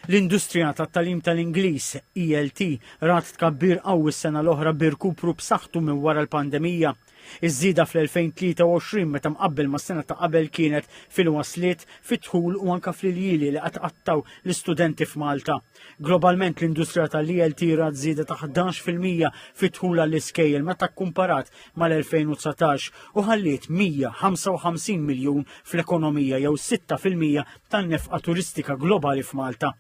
L-industrija tat-tagħlim tal-Ingliż, ELT, rat tkabbir qawwi s-sena l-oħra bi rkupru b'saħħtu minn wara l-pandemija. Iż-żieda fl-2023 meta mqabbel mas-sena ta' qabel kienet fil-wasliet, fid-dħul u anke fl-iljieli li qed iqattgħu l-istudenti f'Malta. Globalment l-industrija tal-ELT rat żieda ta' 11 fil-mija fid-dħul għall-iskejjel meta kkumparat mal-2019 u ħalliet 155 miljun fl-ekonomija jew 6% tan-nefqa turistika globali f'Malta.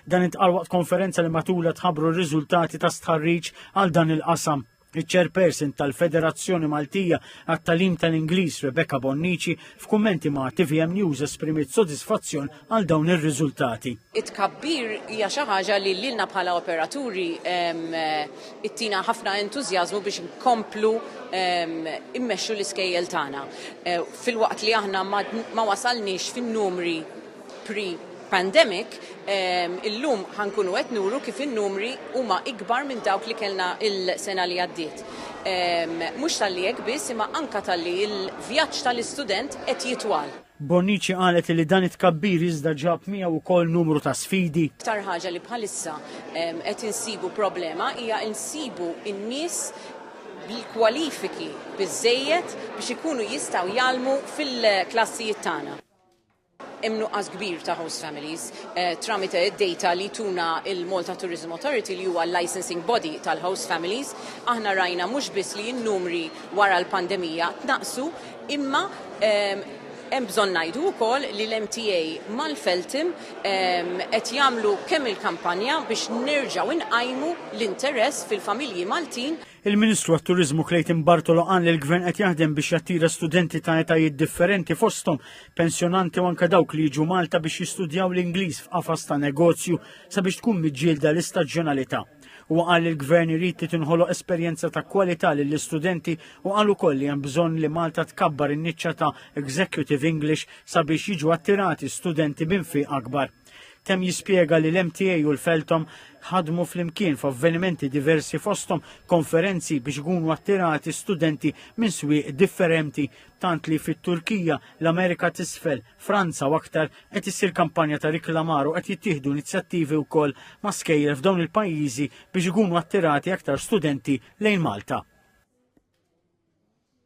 Dan intqal waqt konferenza li matula tħabru r-riżultati ta' stħarriġ għal dan il-qasam. Iċ-chairperson tal-Federazzjoni Maltija għat-Talim tal-Ingliż Rebecca Bonnici f'kummenti ma' TVM News esprimiet sodisfazzjon għal dawn ir-riżultati. It-tkabbir hija xi ħaġa li lilna bħala operaturi ittina ħafna entużjażmu biex nkomplu immexxu l-iskejjel tagħna. Eh, filwaqt li aħna ma wasalniex fin-numri pre pandemic, ehm, illum ħankunu qed nuru kif in-numri huma ikbar minn dawk li kellna il-sena li għaddiet. Ehm, mhux tal-li hekk biss imma anka tal-li il-vjaġġ tal-istudent qed jitwal. Bonnici qalet li dan it-tkabbir iżda ġab miegħu wkoll numru ta' sfidi. L-iktar ħaġa li bħalissa qed insibu problema hija nsibu n-nies bil-kwalifiki biżżejjed biex ikunu jistgħu jgħallmu fil-klassijiet tagħna. Hemm nuqqas kbir ta' host families tramite d-data li tuna l-Malta Tourism Authority li huwa l-licensing body tal-host families. Aħna rajna mhux biss li n-numri wara l-pandemija tnaqqsu, Imma hemm bżonn ngħidu wkoll li l-MTA mal-Feltham qed jagħmlu kemm il-kampanja biex nerġgħu nqajmu l-interess fil-familji Maltin. Il-Ministru għat-Turiżmu Clayton Bartolo qal li l-Gvern qed jaħdem biex jattira studenti ta' etajiet differenti fosthom pensjonanti u anke dawk li jiġu Malta biex jistudjaw l-Ingliż f'qafas ta' negozju sabiex tkun miġġielda l-istaġjonalità. Huwa qal li l-Gvern irid li tinħoloq esperjenza ta' kwalità lill-istudenti u qal ukoll li hemm bżonn li Malta tkabbar in-niċċa ta' Executive English sabiex jiġu attirati studenti b'infiq akbar. Temm jispjega li l-MTA u l-Feltom ħadmu flimkien f'avvenimenti diversi fosthom konferenzi biex ikunu attirati studenti minn swieq differenti tant li fit-Turkija, l-Amerika t'isfel, Franza u aktar qed issir kampanja ta' riklamar u qed jittieħdu inizjattivi wkoll ma' skejjel f'dawn il-pajjiżi biex ikunu attirati aktar studenti lejn Malta.